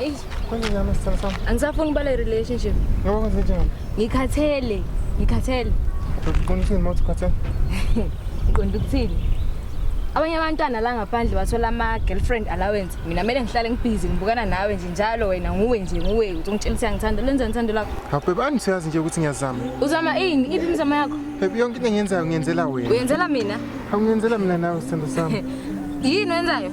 Eyi, Konje ngami sithando sami. angisafuni ukuba le relationship. Ngoba kwenze njani? Ngikhathele, ngikhathele. Uqinisile mawuthi ukhathele. Ngiqonda ukuthini? Abanye abantwana la ngaphandle bathola ama girlfriend allowance. Mina kumele ngihlale ngibhizi ngibukana nawe nje njalo wena nguwe nje nguwe uthi ungitshela ukuthi angithanda lenza ngithando lakho. Hawu bani siyazi nje ukuthi ngiyazama. Uzama ini? Iphi imizamo yakho? Baby yonke into engiyenzayo ngiyenzela wena. Uyenzela mina? Awungenzela mina nawe sithando sami. Yini wenzayo?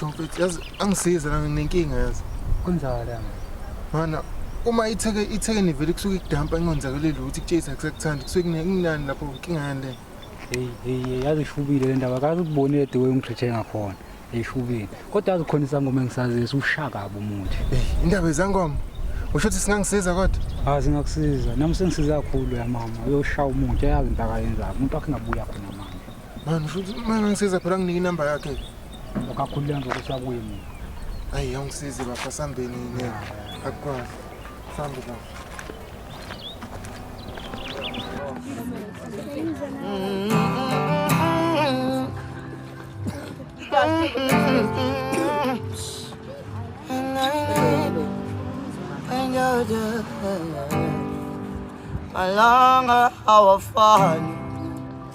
Shomfethu yazi angisize la nginenkinga yazi. Kunjalo yami. Mana uma itheke itheke nivele kusuke ikudampa ingonzakele lutho ikutshisa kusakuthanda kusuke kunani lapho inkinga yani le. Hey hey yazi ishubile le ndaba kazi ukubonile the way ungitreathe ngakhona. Ishubile. Kodwa yazi khona isangoma engisazisa ushaka kabi umuthi. Hey indaba ezangoma. Usho ukuthi singangisiza kodwa? Ah singakusiza. Nami sengisiza kakhulu ya mama. Uyoshaya umuthi yazi impaka yenza. Umuntu wakhe ngabuya khona manje. Mani futhi uma ngangisiza phela nginike inamba yakhe. Ukakhulula nje ukuthi akuye mina. Ayi awungisize bafo sambeni ngeke. Akukwazi. Sambe bafo. Malanga hawafani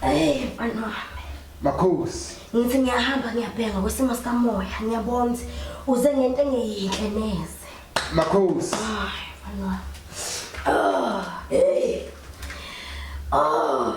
Hey, mfana wami. Makhosi. Ngithi ngiyahamba ngiyabheka kwesimo sikamoya, ngiyabona ukuthi uze ngento engeyinhle neze. Makhosi. Ay, mfana wami. Oh, hey. Oh.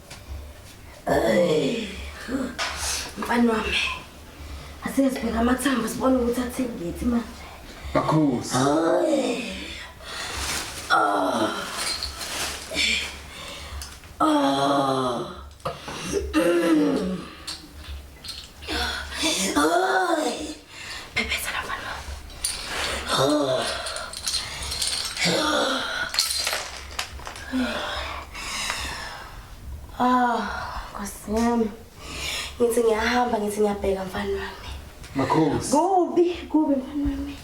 Mfana wami. Asike sibheka amathambo sibone ukuthi athini ngithi manje. Bakhosi. Oh. Oh. Oh. Pepesa la mfana wako. Ah, Nkosi yami. Ngithi ngiyahamba ngithi ngiyabheka mfana wami. Makhosi. Kubi, kubi mfana wami.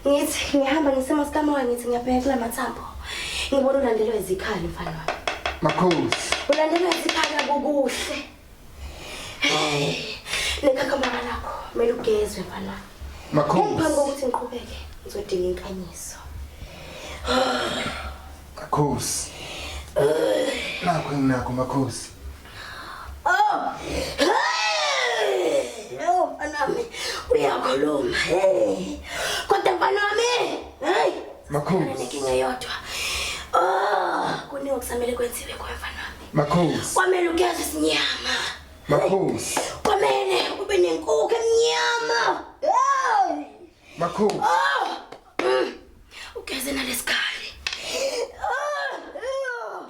Ngithi ngihamba ngisema sikamoya ngithi ngiyabheka kula mathambo. Ngibona ulandelwa izikhali mfana wami. Makhosi. Ulandelwa izikhali akukuhle. Nekhakha mama lakho, kumele ugezwe mfana. Makhosi. Ngiphambi kokuthi ngiqhubeke, ngizodinga inkanyiso. Makhosi. Nakho enginakho makhosi. Oh. No, mfana wami, uyakhuluma. Hey. Kodwa mfana wami, hey. Makhosi. Ngeke ngeyodwa. Oh, kuningi okusamele kwenziwe kwa mfana wami. Makhosi. Kwamele ugeze isinyama. Makhosi. Kwamele ube nenkukhu emnyama. Hey! Makhosi. Oh! Mm. Ugeze nalesikhali. Oh! Oh!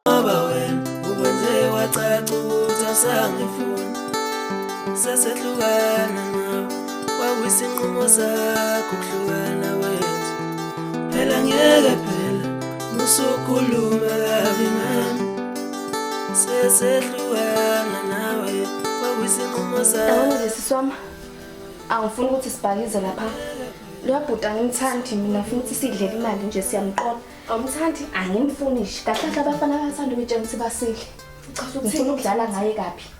Baba wena ukwenze wacaca ukuthi awusangifuni. Sesehlukana nawe. Kwakuyisinqumo sakho kuhlukana wethu. Phela ngeke phela Usukhuluma kabi ngami sesehlukana nawe kwakuyisinqumo sami. Sisi wami angifuni ukuthi sibhakize lapha luyabhuta angimthandi mina ngifuna ukuthi sidlele imali nje siyamqola awumthandi angimfuni nje kahle kahle abafana bathanda ukuyitshela ukuthi basidle ngifuna ukudlala ngaye kabi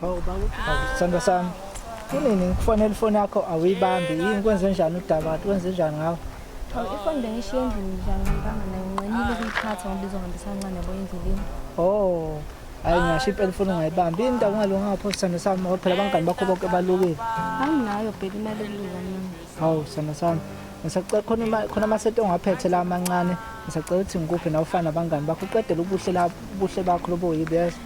Hawu baba, sithando sami. Kunini ngikufonela ifoni yakho awuyibambi yini kwenze njani udaba kwenze njani ngawo? Hawu ifoni bengishiye endlini njani ngibanga nayo nqinile ukuyiphatha ngoba izohambisa kancane yabo endleleni. Oh. Hayi ngisho impela ifoni ungayibambi yini ndaba ungalunganga pho sithando sami ngoba phela abangani bakho bonke balukile. Anginayo bheka imali ekulula mina. Hawu sithando sami. Ngisacela khona ima- khona amasenti ongaphethe la amancane. Ngisacela ukuthi ngikuphe nawe ufana nabangani bakho uqedele ubuhle la ubuhle bakho lobo yibo yazi.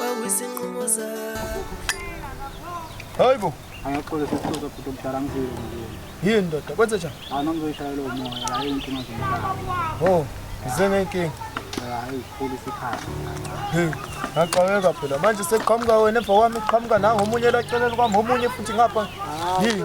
Wawisinqumo zakho. Hayibo. Angaxole sesixoxa futhi omdala ngizile. Yini ndoda kwenze njani? Hayi noma ngizoyishayela umoya hayi inkinga nje. Oh, ngize ngenkinga. Hayi sikhulu isikhathi. Hey, ngaqhaweka phela manje sekuqhamuka wena emva kwami kuqhamuka nangomunye laceleni kwami omunye futhi ngapha. Yini?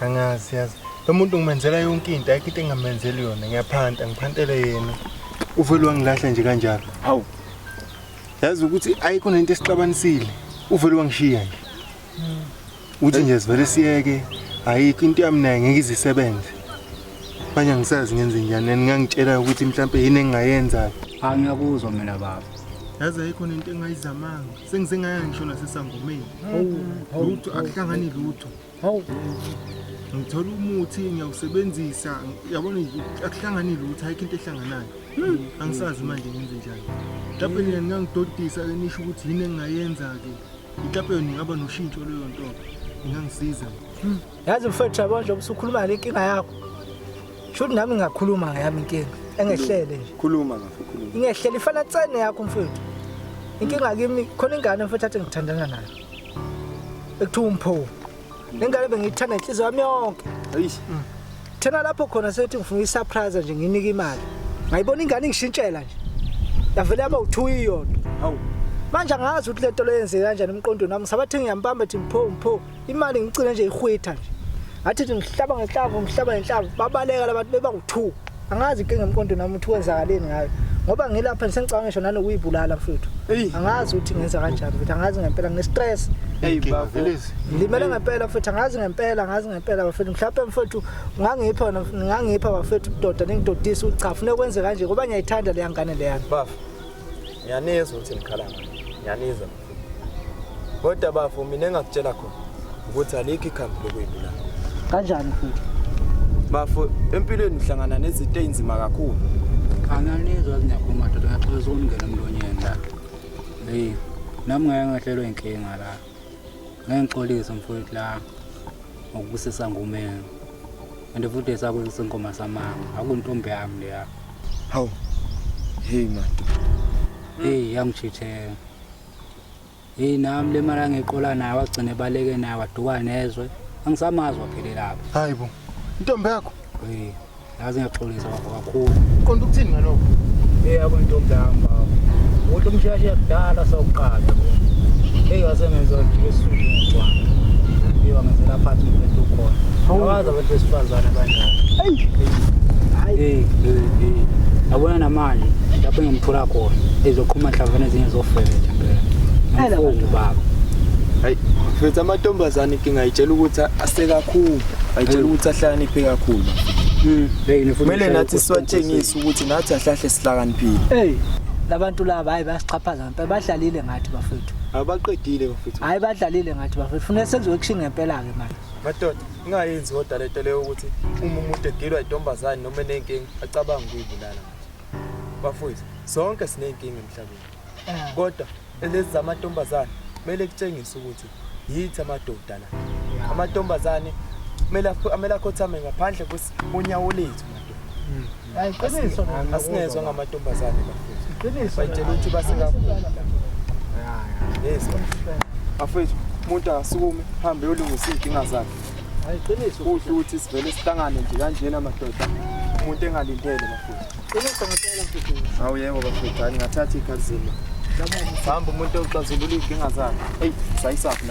angazi yazi lo muntu ngimenzela yonke into ayikho into engamenzeli yona ngiyaphanta ngiphantele yena uvele wangilahle nje kanjalo hawu yazi ukuthi ayikho nento esixabanisile uvele wangishiya nje uthi nje sivele siyeke ayikho into yami naye ngeke izisebenze manje angisazi ngenze njani and ngangitshela ukuthi mhlawumbe yini engingayenza angiyakuzwa mina baba yazi ayikho nento engayizamanga sengizengaya ngisho nasesangomeni lutho akuhlangani lutho hawu ngithola umuthi ngiyawusebenzisa yabona akuhlangani lutho ayikho into ehlanganayo hmm. angisazi manje ngenze njani mhlawumbe nina ningangidodisa ke nisho ukuthi yini engingayenza-ke mhlawumbe yona ingaba noshintsho leyo nto ingangisiza hmm. yazi mfethu yabona njengoba usukhuluma ngale nkinga yakho sho ukuthi nami ngingakhuluma ngayami inkinga engehlele nje khuluma kafe khuluma ingehlele ifana tsene yakho mfethu inkinga kimi khona ingane mfethu athi ngithandana nayo ekuthiwa umpho lengane bengiyithanda inhliziyo yami yonke ayish mm. thena lapho khona sethi ngifuna isurprise nje nginike imali ngayibona ingane ingishintshela nje yavele yaba u2 iyodwa hawu manje angazi ukuthi lento leyenze kanjani emqondweni wami ngisabathe ngiyambamba thi mpho mpho imali ngicine nje ihwitha nje ngathi ngihlaba ngehlavu ngihlaba ngehlavu babaleka labantu beba u2 angazi inkinga emqondo nami ukuthi kwenzakaleni ngayo ngoba ngilapha ngisengicabanga ngisho nanokuyibulala mfethu angazi ukuthi ngenza kanjani mfethu angazi ngempela nginestress limele ngempela mfethu angazi ngempela angazi ngempela bafethu mhlawumpe mfethu ngangipha ngangipha bafethu udoda ningidodisa uchafu funeka kwenze kanje ngoba ngiyayithanda leya ngane leyana bafa ngiyanizwa ukuthi nikhala ngani ngiyanizwa kodwa bafo mina engakutshela khona ukuthi alikho ikhambi lokuyibulala kanjani futhi bafo empilweni uhlangana nezinto ezinzima kakhulu ananizwa zinyakhuluma doda ngiyaxola sokungena emlonyeni la hey nami ngeke ngahlelwe inkinga la ngeke ngixolise mfowethu la ngokubusisa ngumeni and futhi esakuzisa inkoma samanga akuntombi yami leya hawu hey man hey yangijithela Hey nami le mara ngiqola naye wagcine baleke naye waduka nezwe. Angisamazi waphelela lapha. Hayibo. Intombi yakho? Eh, yazi ngiyaxolisa baba kakhulu. Uqonda ukuthini ngalokho? Eh, yabo intombi yami baba. Ukuthi umshashe yakudala sawuqala. Hey, yazi ngenza nje esuku ngicwana. Hey, wangenzela phansi umuntu ukhona. Awazi abantu besifazane kanjani. Hey. Hey, hey, hey. Abona nama manje lapho engimthola khona ezoqhuma nhlavana ezinye zofebetha phela mfundi baba hayi futhi amantombazane inkinga itshela ukuthi asekakhulu ayitshela ukuthi ahlakaniphe kakhulu hmm, kumele nathi siwatshengise ukuthi nathi ahlahle sihlakaniphile eyi labantu laba hayi bayasichaphaza ngempela badlalile ngathi bafethu abaqedile bafethu hayi badlalile ngathi bafethu funeka senziwe kushinga ngempela-ke manje madoda Ingayenzi kodwa lento leyo ukuthi uma umuntu egilwa intombazane noma enenkinga acabanga ukuyibulala manje. Bafowethu, sonke sinenkinga emhlabeni. Ah. Kodwa lezi zamantombazane kumele kutshengise ukuthi yithi amadoda la. Amantombazane kumele kumele akhothame ngaphandle kwesi bonyawo lethu madoda. Hmm. asingezwa ngamantombazane bayitshela ukuthi basikakhulu yes bafethu umuntu akasukume hambe yolungisa iy'nkinga zakhe kuhle ukuthi sivele sihlangane nje kanjena madoda umuntu engalindele bafethu awu yebo bafethu hayi ngathatha ikhazini hamba umuntu oxazulula iy'nkinga zakhe eyi sayisaphi